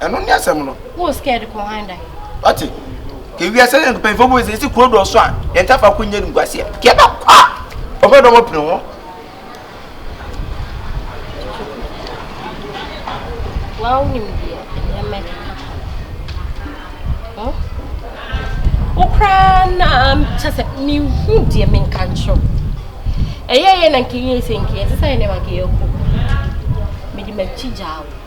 Ɛno ne asɛm no. Wo scared kɔ han da. Wate? Ke wiase ne mpanyinfo bu ese esi kuro dɔ so a yɛn ta fa ko nyɛ nim guaseɛ. Ke yɛbɛ kɔ a ɔbɛ dɔm apini ho. Wa wo nim deɛ ɛnyɛ mɛ kaka. Ho? Wo koraa na kyɛ sɛ mehu deɛ menka nkyerɛ wo. Ɛyɛ yɛ na nkeyɛ sɛ nkeyɛ sɛ sɛ yɛ nɛma nkeyɛ ko. Mede m'akyi gyaa wo.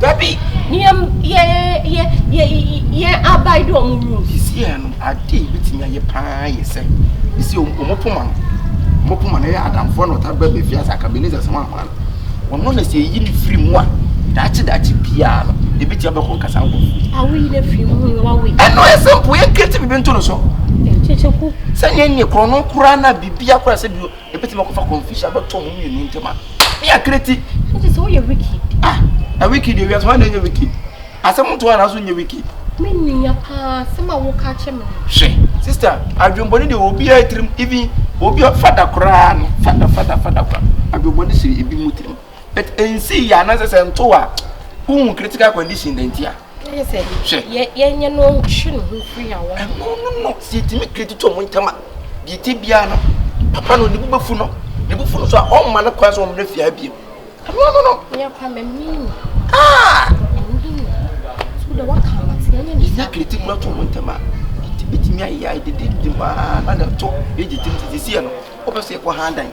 Dabi! Ne yɛn yɛn yɛn yɛn abae dɔ wɔn wu. Sesia no, ade a ebetumi ayɛ paa yɛ sɛ yɛsi wɔn wɔn poma no. Wɔn poma no yɛ adamfoɔ na ɔtaa bɛ bɛfia sɛ akabeneza sɛ wɔn ahoa no. Wɔn no na sɛ eyi ne firi mu a, daakye daakye biara no, ebetumi abɛkɔ nkasa nkɔfo. Awoyi ne firi mu na wawoyi. Ɛno yɛ simple, yɛn creative bi nto no so. Nkyekyeku. Sɛ yɛn nyɛ korɔ no koraa na biribi akora sɛ bi. Ebetumi akɔfa confusion abɛtɔ wɔn mmienu ntam a. Ne yɛ akreti. So te sɛ woyɛ wicked. Ah, na wicked yɛ wiase wɔn na ɛnyɛ wicked. Asɛm nto a n'aso nyɛ wicked. Me nua paa asɛm a woka akyɛ me no. Hwɛ, sister, adwembɔne deɛ obiara tirim even obi fada koraa no fada fada fada koraa adwembɔne si ebi mu tirim but nsi yɛ anaasɛ sɛ nto a wohu critical condition na nti a. Ɛyɛ sɛ hwɛ yɛnyɛ no ntwe ne ho firi awɔ. Ɛno no no sɛ yɛtumi kredit ɔmo ntɛm a deɛ ɛte biara no papa no ne bobɛfu no ne bofu no so a ɔmma no kwan sɛ ɔmmra fie ha biam. Ɛno no no. Yɛkwa mamini. Ah! Mamini. So da waka ama te yɛnyɛ ne saa. Yɛ kredit no ato ɔmo ntɛm a ɛtumi ayɛ a ɛdede de maa na na ɛto ɛgye tim te sisi yɛ no wobɛ sɛ yɛkɔ ha dan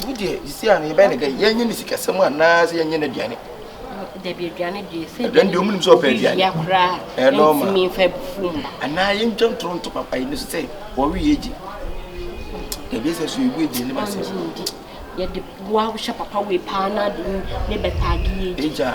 Tumi deɛ sisi a no yɛbɛyɛ ne dɛ yɛnyɛ ne sikasɛm anaa sɛ yɛnyɛ n'aduane. Dabi aduane deɛ sɛ aduane deɛ ɔmunim sɛ ɔpɛ aduane. Obi koraa ɛntumi nfa bufu mu. Anaa yɛntwa ntoro nto papa yi ne so sɛ wɔwe yɛ gye. Dabi sɛ so yɛgu aduane ma sɛ. Yɛde boa wohyɛ papa wei paa na ade ne bɛtaage yɛ gye.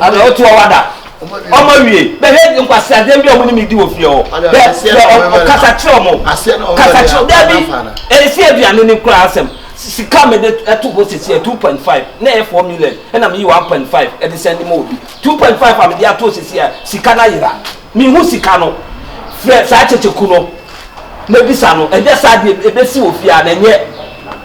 ana otu ọwa da ọmọ wie bẹẹ yẹ nkwasi adé bi ọmọ ni mi di wọ fie ọ bẹẹ bẹẹ ọkasa kyerẹ ọmọ kasa kyerẹ dẹbi esi aduane ni kura asẹm sika mi de ẹtu hɔ sisi ẹ two point five na ẹ four million ẹna mi yi one point five ẹdi sẹ ẹni mu obi two point five a mi di ato sisi ẹ sika na yira mi hu sika no fẹ saa kyekyeku no na ebisa no ẹnyẹ saa deɛ ebesi wɔ fie a na ẹnyẹ.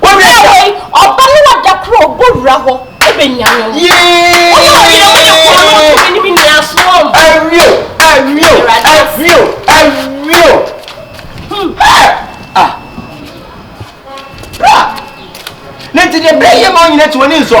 Ɔbaa hɔ yi, ɔba no a da koro a ɔbɔ wura hɔ bɛnya no. Ɔyɛ ɔyere mo ne kɔn no nso menim nni asoɔ mu. Awio, awio, awio, awio. Hmm. Ah. Bra. Ne nti deɛ bra yie ma ɔnyina ti wɔ ni nsɔ.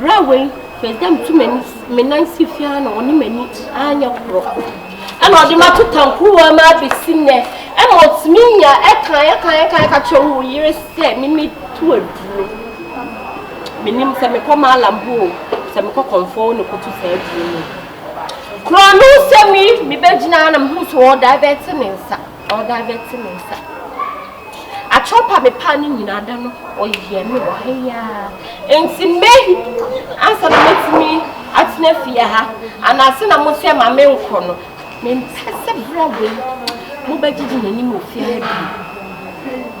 Berɛ wei, mepɛ sɛ metu m'ani me nan si fie ara na ɔne m'ani anyɛ korɔ. Ɛna ɔde mato tankuruwa mu abɛsi nnɛ. Ɛma ɔtumi nya ɛka ɛka ɛka ɛka kyerɛ wo yere sɛ mimi to aduro. Menim sɛ mekɔ maalam hɔ o, sɛ mekɔ kɔmfoɔ wo ne kɔto saa aduro no. Korɔ no sɛ me mebɛgyina na mehu sɛ ɔdivɛte ne nsa. Ɔda bɛte me nsa. Atorɔ pa me paa no nyinaa da no ɔyɛ me wɔ ha yi ara. Nti me ansa na mɛtumi atena fie ha anaase na mo sɛ ma me nkɔ no. Mempɛ sɛ berɛ wei mobɛgyegye m'anim wɔ fie ha bio.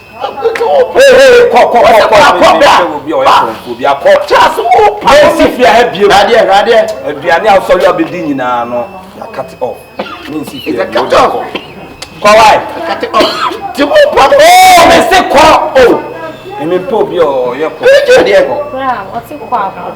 aduane a wosɔre abɛdi nyinaa no yɛakate off mensi fie kɔwae mese kɔ o mempɛ obi a ɔyɛ kɔ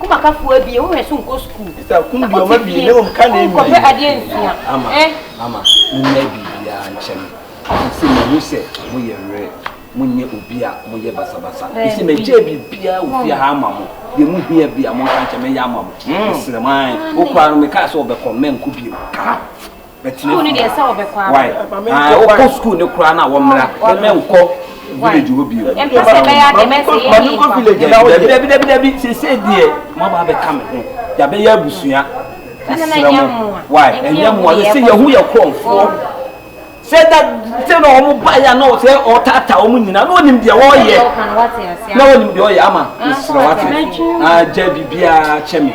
Kumakafoɔ abie wo werɛ so nkɔ sukuu na wote fie wonkɔpɛ adeɛ nsua eh. Ɔsese mehu sɛ moyɛ werɛ monyɛ obi a moyɛ basabasa ɛsɛ mɛgyae biribiara wɔ fie ha ama mo deɛ mohia bi a monka nkyɛ mɛyɛ ama mo mesrɛ mo ae wokɔ a no mekaa sɛ ɔbɛkɔ mɛnkɔ bio ka bɛtena fie why ah wokɔ school ne koraa na wɔmmra na mɛnkɔ village hɔ bio dabidabidabi sesei deɛ moaba abɛka me ho yɛabɛyɛ abusua ɛserɛ mo why ɛnyɛ mmoa yɛ sɛ yɛhu yɛ korɔmfoɔ sɛ da sɛ na wɔn ba yɛ na sɛ ɔtaataa wɔn nyinaa na wɔnim deɛ wɔyɛ na wɔnim deɛ ɔyɛ ama nsira wate agya biribiara kyɛ me.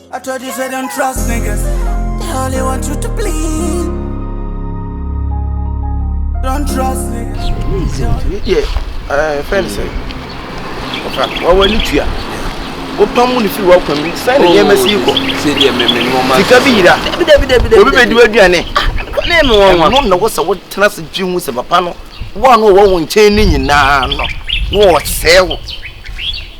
I told you say don't trust niggas. They only want you to bleed. Don't trust niggas. Yeah, uh, friend say. Wa wa ni tuya. O pamu ni firi wa kwa mi. Sai ni yɛ mɛsi kɔ. Se deɛ mɛ mɛ nɔɔma. Sika bi yira. Dabi dabi dabi dabi. Obi bɛ di wa duane. Ne mi wɔn wa. Ɛnu na wɔsɛ wɔ tena se dwi hu sɛ papa no. Wɔn a wɔn wɔn nkyɛn ne nyinaa no. Wɔn sɛɛ wɔ.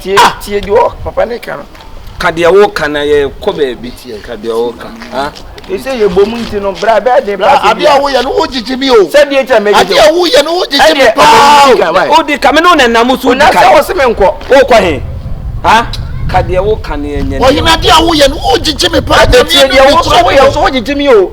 tie ah! tie deɛ ɔ papa ne ka no ka deɛ woka na yɛkɔ baabi ka deɛ woka ɛsɛ yɛ bom nti no bra bɛɛ den pa sɛ adeɛ a woyɛ no wogyegye me o sɛdeɛ kyɛ mɛgyegye adeɛ a woyɛ no wogyegye me paa wodi ka me ne wo nanam so wodi ka sɛ wo se me nkɔ wokɔ he ha ka deɛ woka ne ɛnyɛ ɔhenadeɛ a woyɛ no wogyegye me paa nyame ɛnu ne kura me o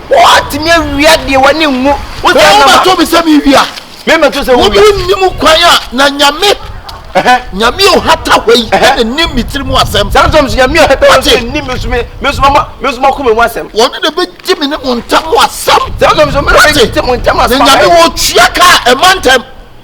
Woatumi awia deɛ w'ani nwu. Wogya nama. Wobɛto me sɛ me wia. Me mɛto sɛ wo wia. Wobi nnim kwan a na nyame. Nyame a ɔhata hɔ yi na nim me tiri mu asɛm. Saa nso nyame a ɔhata hɔ yi nim me nso me nso ma me nso ma koma mu asɛm. Wɔn na bɛgye me ne mo ntam asɛm. Saa nso me na bɛgye mo ntam asɛm. Na nyame wɔtua ka ɛma ntam.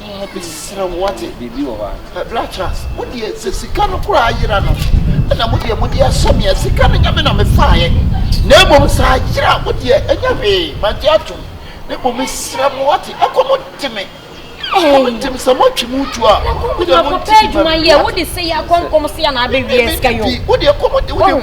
Mesrɛ wo, woate? Bra kyerɛ ase. Wo deɛ, sɛ sika no koraa yera no, ɛna mo deɛ mode ahyɛ me a, sika no nyɛ me na mefaeɛ. Na mmom sɛ ayera a, wo deɛ, ɛnyɛ hwee, magye atom. Na mmom mesrɛ mo, woate? Ɛkɔm de me. Ɛkɔm de me. Sɛ moatwi mo tu a, mo deɛ monte bi ma me. Wo deɛ, ɛkɔm de wo.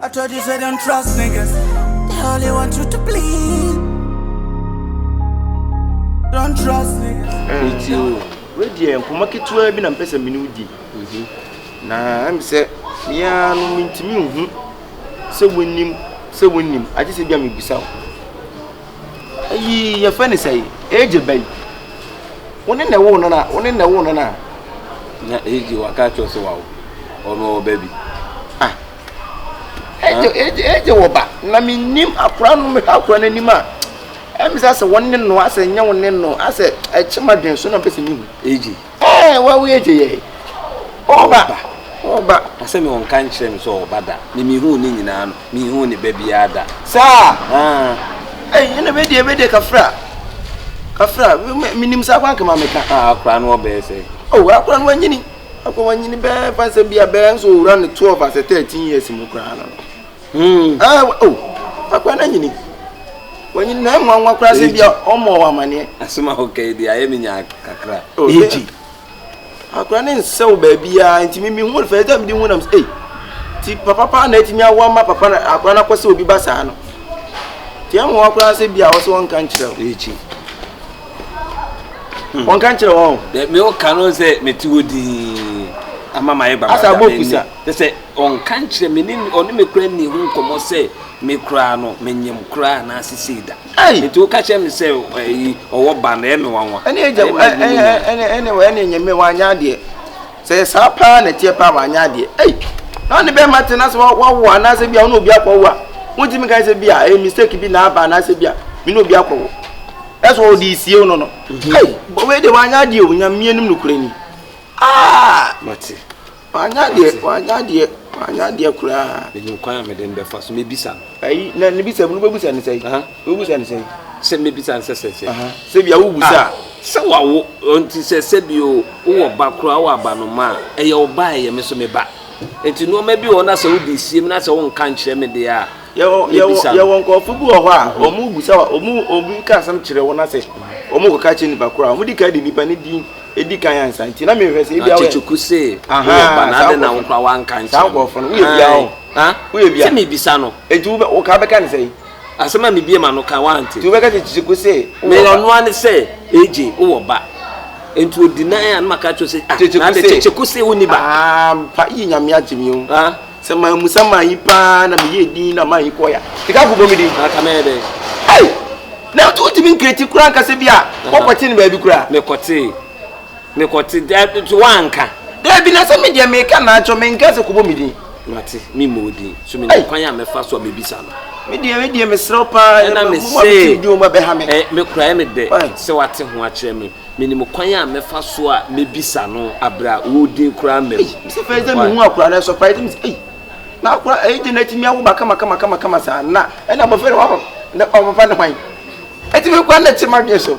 I told you say don't trust niggas. They only want you to bleed. Don't trust niggas. Wedi yɛ nkɔmɔ ketewa bi na mpɛ sɛ mene wo di mhm. na ɛm sɛ meaa no mentumi nhu sɛ wonim sɛ wonim agye sɛ bia mebisa wo ayi yɛfɛ ne sɛ ɛgye bɛyi wo ne na ɛwo no na wo ne na ɛwo no na na ɛgye waka kyerɛ sɛ wawo ɔno ɔba bi Agya agya agya wɔ ba na mi nim akora no mi hwɛ akora n'anim a ɛmi sɛ asɛ wɔn ne no asɛ nyɛ wɔn ne no asɛ ɛkyɛ ma dwen so na mpɛ sɛ mi hu. Agya ɛɛ wɔn awo agya yɛ ɔba ɔba. Asɛ mi wɔn ka nkyerɛ mi sɛ ɔba da mi mi hu ne nyinaa no mi hu ne ba biara da. Saa aa ɛɛ ɛna bɛ deɛ bɛ deɛ kafra kafra mi nim saa kwan kama mi ka. Aa akora no ɔbɛɛ sɛ. Ooo akora no wɔn nyini. Afei wanyini bɛɛ fa sɛ bi a bɛɛ nso owura ne twelve asɛ thirteen years mu koraa no. Hmm. Ah, oh, akwa na nyini. Wanyini na ɛnwa nwa koraa sɛ bi a ɔmɔ wɔ amaneɛ. Asoma ho kɛyi de ayɛ mi nya kakra. Oh, Eji. Akwa ne nsɛw baabi a nti mi mi hu fɛ ɛdɛ mi di hu nam sɛ. Ti papa paa na etimi awo ama papa na akwa na kɔsɛ obi ba saa no. Ti ɛnwa koraa sɛ bi a ɔsɛ wɔn kan kyerɛ. Eji. Wɔnka nkyerɛ wɔn. Dɛ me ɔka no sɛ mete hɔ dinn ama mayɛ gbagada. Asa abɔ kusa. Te sɛ ɔnka nkyerɛ me ne ɔne me koraa nni ho nkɔmmɔ sɛ me koraa no menyem koraa anaa sesei da. Nti woka kyerɛ me sɛ ayi ɔwɔ ba no ɛyɛ me nwanwa. Ɛne agya ɛne ɛne ɛne ɛne ɛnyɛ me wanyɛ adeɛ. Sɛ ɛyɛ saa paa na ɛteɛ paa a wanyɛ adeɛ ei na ɔne bɛrima te na sɛ wawo anaasɛ bi a ɔne obi akɔwo a wontumi nka sɛ bi a ɛyɛ mistake bi na aba anaasɛ bi a me ne obi akɔwo ɛsɛ ɔde esie no no mhm. ei wei de wanyɛ adeɛ o nyamea nim nokorɛ ni aa mate wanyɛ adeɛ wanyɛ adeɛ wanyɛ adeɛ koraa ɛnyɛ kwan a mede mbɛfa so mebisa no ayi na ne bisa mu no bɛbisa ne sɛ wobisa ne sɛ sɛ mebisa nsɛ sɛ sɛ sɛ bia wobisa ah, sɛ wawo nti sɛ sɛ bi o wowɔ ba koraa wɔ aba no ma a ɛyɛ wo ba ɛyɛ me so me ba nti nneɛma bi wɔ na sɛ wode sie mu na sɛ wonka nkyerɛ me deɛ a yɛwɔ nkurɔfo bi wɔ hɔ a wɔn mm. bisa wɔn obi ka asɛm kyerɛ wɔn asɛ wɔn kɔ ka kyerɛ nipa koraa wɔn di ka di nipa ne din edi kan ansa nti na mehwɛ sɛ ebi awɔ yɛ kyekyeku se wɔn ba na adi na wɔn kora wɔn anka nkyɛn saa nkurɔfo no woyɛ bia hɔ woyɛ bia sɛ mi bisa no eti wo ka bɛka ne sɛ yi. Asɛm a mebue m'ano ka, woante. Nti wobɛka kyerɛ Kyeku sɛ wowɔ ba. Nea ɔno ara ne sɛ, AJ, wowɔ ba. Nti odi nan a na maka akyerɛ wo sɛ, ah, Kyeku na se. ade Kyeku se wonni ba. Ampa, ii Nyame agye me o. Ah. Sɛ mammusa manyi paa na meyɛɛ din na manyi kɔɔe a, sika kɔbɔ me din. Anka mɛyɛ dɛn? Ei! Na wontumi nkreati koraa nka sɛ bi a woakɔte no baabi koraa? Mekɔtee. Mekɔte. Daabi, nti woanka? Daabi, na sɛ me deɛ meka na akyerɛ wo, menkaa sɛ kɔbɔ me din. Mate, me mu odin. So me nim kwan a me fa so a me bisa no. Me deɛ me deɛ me srɛ paa. Ɛna me se. Di o ma bɛ ha me. Ɛ me kura ɛ me dɛ. Sɛ wate ho akyerɛ me. Me nim kwan a me fa so a me bisa no abira wo din kura mɛ. Me se fɛ ɛdɛ me hu akura na ɛsɔ pa ɛdɛ me se ɛy. Na akura ɛyɛ gyina ɛti mi awoba kama kama kama kama saa na ɛna bɔfɛ na waba na ɔbɛfa ne hwan. Ɛti mi kura na ɛti ma deɛ so.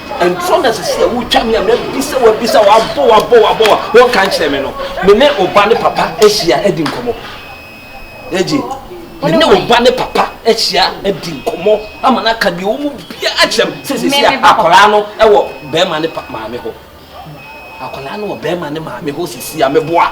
ɛntorɔ na sisi a wotwa me a mabisa wabisa wabɔ wabɔ wabɔ wa wɔnka nkyerɛ me no me ne ɔba ne papa ahyia adi nkɔmmɔ agye me ne ɔba ne papa ahyia adi nkɔmmɔ ama no aka deɛ ɔmu bia akyerɛ m sɛ sisi a akwaraa no ɛwɔ bɛrima ne maame hɔ akwaraa no wɔ bɛrima ne maame hɔ sisi a meboa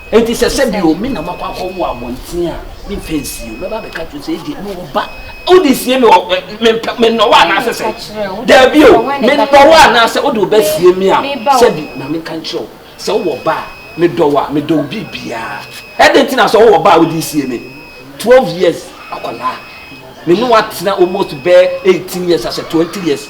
Enti sɛ sɛ bi o, me na makɔ akɔ wo abɔnten a, me mpɛ nsie o, mɛba abɛka kyerɛ sɛ ɛdeɛ me wɔ ba, o de sie me wɔ, me mpɛ, me nnɔ wɔ anaasɛ sɛ, daabi o, me nnɔ wɔ anaasɛ o de ɔba sie me a, sɛ bi, ma me nka nkyerɛ wo, sɛ wo wɔ ba a, me dɔ wɔ a, me dɔ wo biri biara, ɛdeɛ nti na sɛ wo wɔ ba a, o de sie me, twelve years akwadaa, me ne wo atena almost bɛɛ eighteen years asɛ twenty years.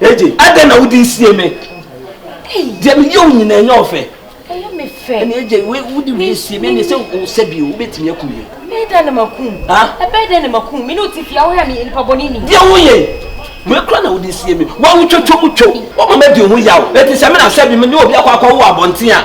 Eje, adɛn na wode sie me? Deɛ meyɛ wo nyinaa ɛnyɛ wo fɛ. Ɛyɛ me fɛ. Ɛne Eje, wode wie sie me ɛne sɛ wosɛ bio, wobɛtumi akum me. Ɛbɛyɛ dɛn na makum? Ɛbɛyɛ dɛn na makum? Me ne wote fie a wohwɛ me nipa bɔne ni. Deɛ woyɛ wei kora na wode sie me. Wawotwatwa mu twam, woma madi ho yaw. Enti sɛ me na sɛ bi me ne obi akɔ akɔwo abɔnten a,